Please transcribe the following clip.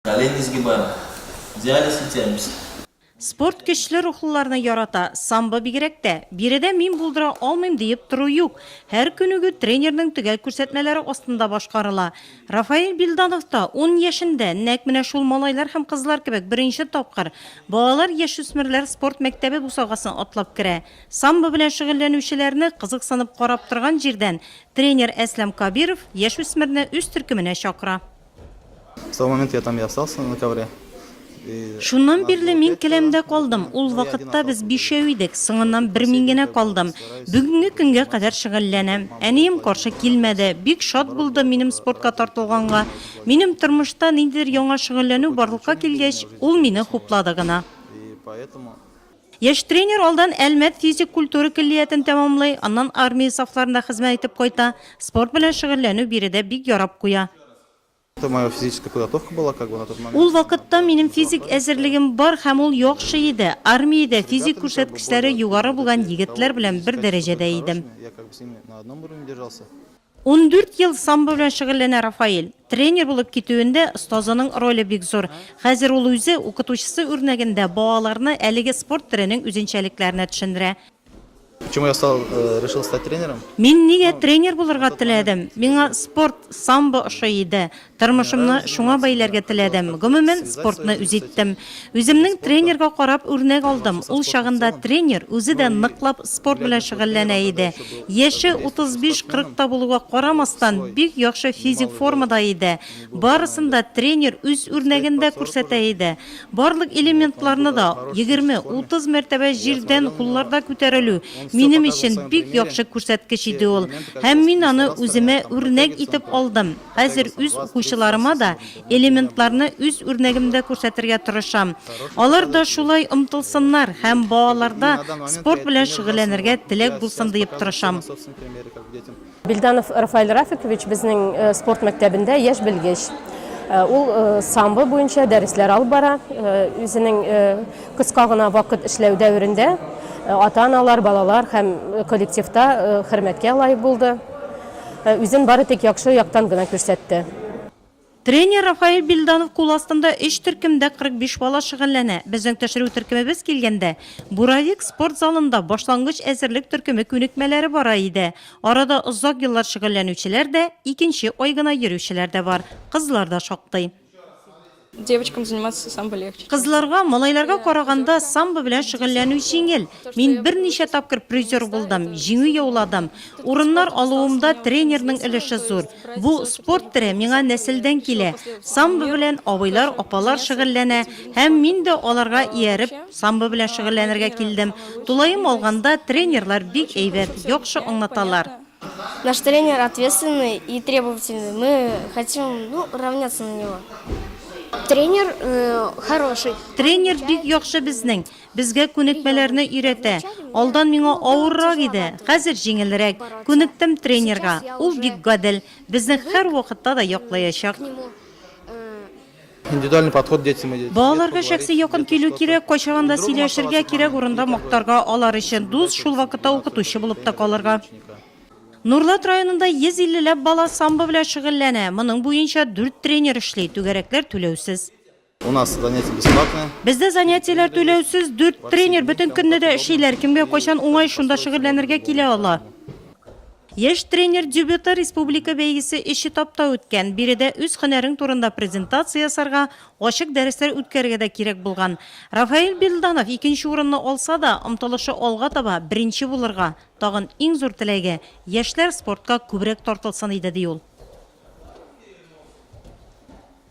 Колен не сгибаем. Диализ итәбез. Спорт көчле рухлыларны ярата, самбо бигрәк тә. Биредә мин булдыра алмыйм диеп тору юк. Һәр күнегү тренерның төгәл күрсәтмәләре астында башкарыла. Рафаэль Бильданов та ун яшендә, нәкъ менә шул малайлар һәм кызлар кебек беренче тапкыр балалар-яшүсмерләр спорт мәктәбе бусагасын атлап керә. Самбо белән шөгыльләнүчеләрне кызыксынып карап торган җирдән тренер Әсләм Кабиров яшүсмерне үз төркеменә чакыра. Шуннан бирле мин келәмдә калдым. Ул вакытта без бишәү идек, соңыннан бер мин генә калдым. Бүгенге көнгә кадәр шөгыльләнәм. Әнием каршы килмәде, бик шат булды минем спортка тартылганга. Минем тормышта ниндидер яңа шөгыльләнү барлыкка килгәч, ул мине хуплады гына. Яшь тренер алдан Әлмәт физик культура көллиятен тәмамлый, аннан армия сафларында хезмәт итеп кайта. Спорт белән шөгыльләнү биредә бик ярап куя. Ул вакытта минем физик әзерлегем бар һәм ул яхшы иде. Армиядә физик күрсәткечләре югары булган егетләр белән бер дәрәҗәдә идем. Ундүрт ел самбо белән шөгыльләнә Рафаэль. Тренер булып китүендә остазының роле бик зур. Хәзер ул үзе, укытучысы үрнәгендә, балаларны әлеге спорт төренең үзенчәлекләренә төшендерә. Почему я стал, решил стать тренером? Мин нигә тренер булырга теләдем? Миңа спорт, самбо ошый иде. Тормышымны шуңа бәйләргә теләдем. Гомумән, спортны үз иттем. Үземнең тренерга карап үрнәк алдым. Ул чагында тренер үзе дә ныклап спорт белән шөгыльләнә иде. Яше 35-40 та булуга карамастан, бик яхшы физик формада иде. Барысын да тренер үз үрнәгендә күрсәтә иде. Барлык элементларны да, 20-30 мәртәбә җирдән кулларда күтәрелү, минем өчен бик яхшы күрсәткеч иде ул. Һәм мин аны үземә үрнәк итеп алдым. Хәзер үз укучыларыма да элементларны үз үрнәгемдә күрсәтергә тырышам. Алар да шулай омтылсыннар һәм балаларда спорт белән шөгыльләнергә теләк булсын диеп тырышам. Бельданов Рафаэль Рафикович безнең спорт мәктәбендә яшь белгеч. Ул самбо буенча дәресләр алып бара. Үзенең кыска гына вакыт эшләү дәверендә ата-аналар, балалар һәм коллективта хөрмәткә лаек булды. Үзен бары тик яхшы яктан гына күрсәтте. Тренер Рафаэль Бильданов кул астында өч төркемдә 45 бала шөгыльләнә. Безнең төшерү төркемебез килгәндә, Буровик спорт залында башлангыч әзерлек төркеме күнекмәләре бара иде. Арада озак еллар шөгыльләнүчеләр дә, икенче ай гына йөрүчеләр дә бар, кызлар да шактый. Девочкам заниматься самбо легче. Кызларга, малайларга караганда самбо белән шөгыльләнү җиңел. Мин берничә тапкыр призер булдым, җиңү яуладым. Урыннар алуымда тренерның өлеше зур. Бу спорт төре миңа нәселдән килә. Самбо белән абыйлар, апалар шөгыльләнә һәм мин дә аларга ияреп самбо белән шөгыльләнергә килдем. Тулаем алганда, тренерлар бик әйбәт, яхшы аңлаталар. Наш тренер ответственный и требовательный. Мы хотим, ну, равняться на него. Тренер э, хороший. Тренер бик яхшы безнең. Безгә күнекмәләрне өйрәтә. Алдан миңа авыррак иде, хәзер җиңелрәк. Күнектем тренерга. Ул бик гадел. Безне һәр вакытта да яклаячак. Э, Индивидуальный подход детям и детям. Балаларга шәхси якын килү кирәк, кайчагын да сөйләшергә, кирәк урында мактарга, алар өчен дус, шул вакытта укытучы булып та калырга. Нурлат районында 150 ләп бала самбо белән шөгыльләнә, моның буенча дүрт тренер эшли, түгәрәкләр түләүсез. У нас занятия бесплатные. Бездә занятиеләр түләүсез, дүрт тренер бөтен көнне дә эшлиләр, кемгә кайчан уңай, шунда шөгыльләнергә килә ала. Яшь тренер дебюты республика бәйгесе өч этапта үткән. Биредә үз һөнәрең турында презентация ясарга, ачык дәресләр үткәрергә дә кирәк булган. Рафаэль Бильданов икенче урынны алса да, омтылышы алга таба, беренче булырга. Тагын иң зур теләге, яшьләр спортка күбрәк тартылсын иде, ди ул.